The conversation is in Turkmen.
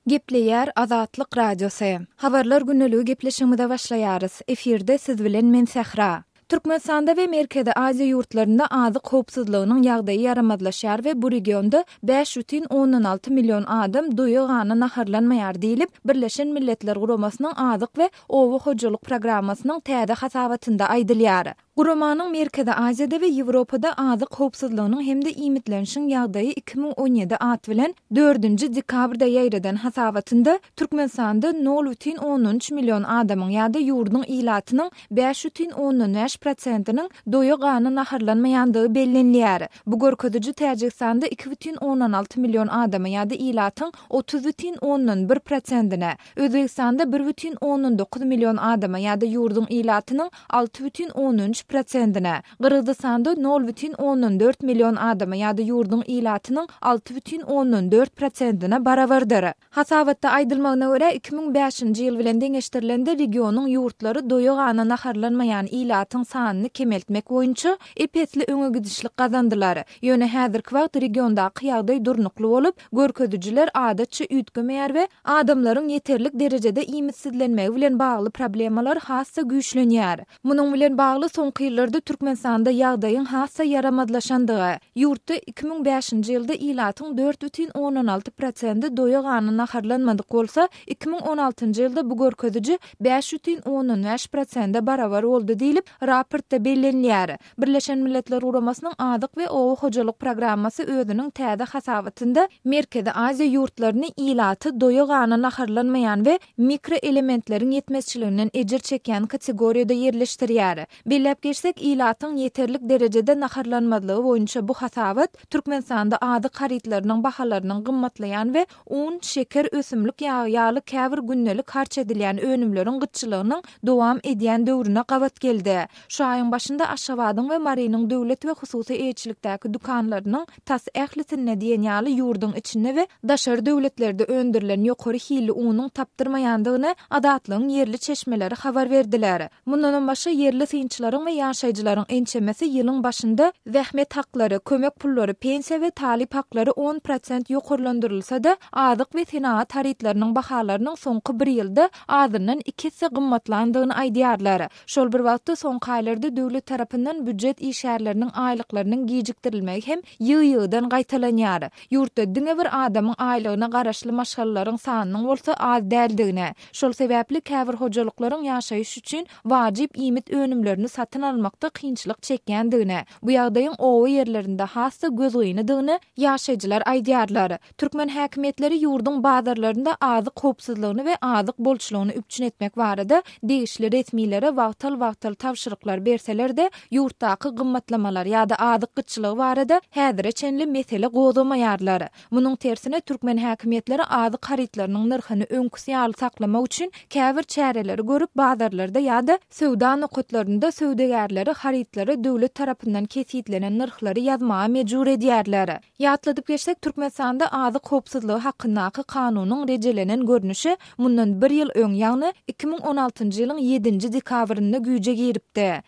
Gepleýär Azatlyk Radiosy. Habarlar gündeligi gepleşigimize başlaýarys. Efirde siz bilen men Sähra. Türkmenistanda we Merkezi Aziýa ýurtlarynda azyk howpsuzlygynyň ýagdaýy ýaramazlaşýar we bu regionda bäş butin ondan alty million adam doýa-gana naharlanmaýar diýlip, Birleşen Milletler Guramasynyň Azyk we oba hojalyk programmasynyň täze hasabatynda aýdylýar. Guramanyň Merkezi Aziýada we Ýewropada azyk howpsuzlygynyň hem-de iýmitlenişiň ýagdaýy iki müň on ýedi at bilen dördünji dekabrda ýaýradan hasabatynda Türkmenistanda nol bütin ondan üç million adamyň ýa-da ýurduň ilatynyň bäş bütin ondan bäş prosentiniň doýa-gana naharlanmaýandygy bellenilýär. Bu görkeziji Täjigistanda iki bütin ondan alty million adama ýa-da ilatyň otuz bütin ondan bir prosentine, Özbegistanda bir bütin ondan dokuz million adama ýa-da ýurduň ilatynyň alty bütin ondan üç prosentine, Gyrgyzystanda nol bütin ondan dört million adama ýa-da ýurduň ilatynyň alty bütin ondan dört prosentine barabardyr. Hasabatda aýdylmagyna görä, iki müň bäşinji ýyl bilen deňeşdirilende regionyň ýurtlary doýa-gana naharlanmaýan ilatyň sanyny kemeltmek boýunça ep-esli öňegidişlik gazandylar. Ýöne häzirki wagt regiondaky ýagdaý durnukly bolup, Görkezijiler adatça üýtgemeýär we adamlaryň ýeterlik derejede iýmitsizlenmegi bilen bagly problemalar has-da güýçlenýär. Munuň bilen bagly soňky ýyllarda Türkmenistanda ýagdaýyň has-da ýaramazlaşandygy, ýurtda iki müň bäşinji ýylda ilatyň dört bütin ondan alty prosendi doýagana naharlanmadyk bolsa, iki müň on altynjy ýylda bu görkeziji bäş bütin ondan bäş prosende barabar boldy diýlip, raportda bellenilýär. Birleşen Milletler Guramasynyň Azyk we oba hojalyk programmasy özüniň täze hasabatynda Merkezi Aziýa ýurtlaryny ilaty doýa-gana naharlanmaýan we mikroelementleriň ýetmezçiliginden ejir çekýän kategoriýada ýerleşdirýär. Belläp geçsek, ilatyň ýeterlik derejede naharlanmazlygy boýunça bu hasabat Türkmenistanda azyk harytlarynyň bahalarynyň gymmatlaýan we Un, şeker, ösümlik ýagy ýaly käbir gündelik harç edilýän önümleriň gytçylygynyň dowam edýän döwrüne gabat geldi. Şu aýyň başynda Aşgabadyň we Marynyň döwlet we hususy eýeçilikdäki dükanlarynyň tas ählisinde diýen ýaly ýurduň içinde we daşary döwletlerde öndürilen ýokary hilli unuň tapdyrmaýandygyny Azatlygyň ýerli çeşmeleri habar berdiler. Mundanam başga ýerli synçylaryň we ýaşaýjylaryň ençemesi ýylyň başynda zähmet haklary, kömek pullary, pensiýa we talyp haklary on prosent ýokarlandyrylsa-da, azyk we senagat harytlarynyň bahalarynyň soňky bir ýylda azyndan iki esse gymmatlandygyny aýdýarlar. Şol bir wagtda, soňky aýlarda döwlet tarapyndan býujet işgärleriniň aýlyklarynyň gijikdirilmegi hem ýygy-ýygydan gaýtalanýar. Ýurtda diňe bir adamyň aýlygyna garaşly maşgalalaryň sanynyň bolsa az däldigini, Şol sebäpli käbir hojalyklaryň ýaşaýyş üçin wajyp iýmit önümlerini satyn almakda kynçylyk çekýändigini, bu ýagdaýyň oba ýerlerinde has-da gözgynydygyny ýaşaýjylar aýdýarlar. Türkmen häkimiýetleri ýurduň bazarlarynda azyk howpsuzlygyny we azyk bolçulygyny üpjün etmek barada degişli resmilere wagtal-wagtal tabşyryklar berseler-de, ýurtdaky gymmatlamalar ýa-da azyk gytçylygy barada häzire çenli mesele gozamaýarlar. Munuň tersine, türkmen häkimiýetleri azyk harytlarynyň nyrhyny öňküsi ýaly saklamak üçin käbir çäreleri görüp, bazarlarda ýa-da söwda nokatlarynda söwdagärleri harytlara döwlet tarapyndan kesgitlenen nyrhlary ýazmaga mejbur edýärler. Ýatladyp geçsek, Türkmenistanda Azyk howpsuzlygy hakyndaky kanunyň rejelenen görnüşi mundan bir ýyl öň, ýagny iki müň on altynjy ýylyň ýedinji dekabrynda güýje giripdi.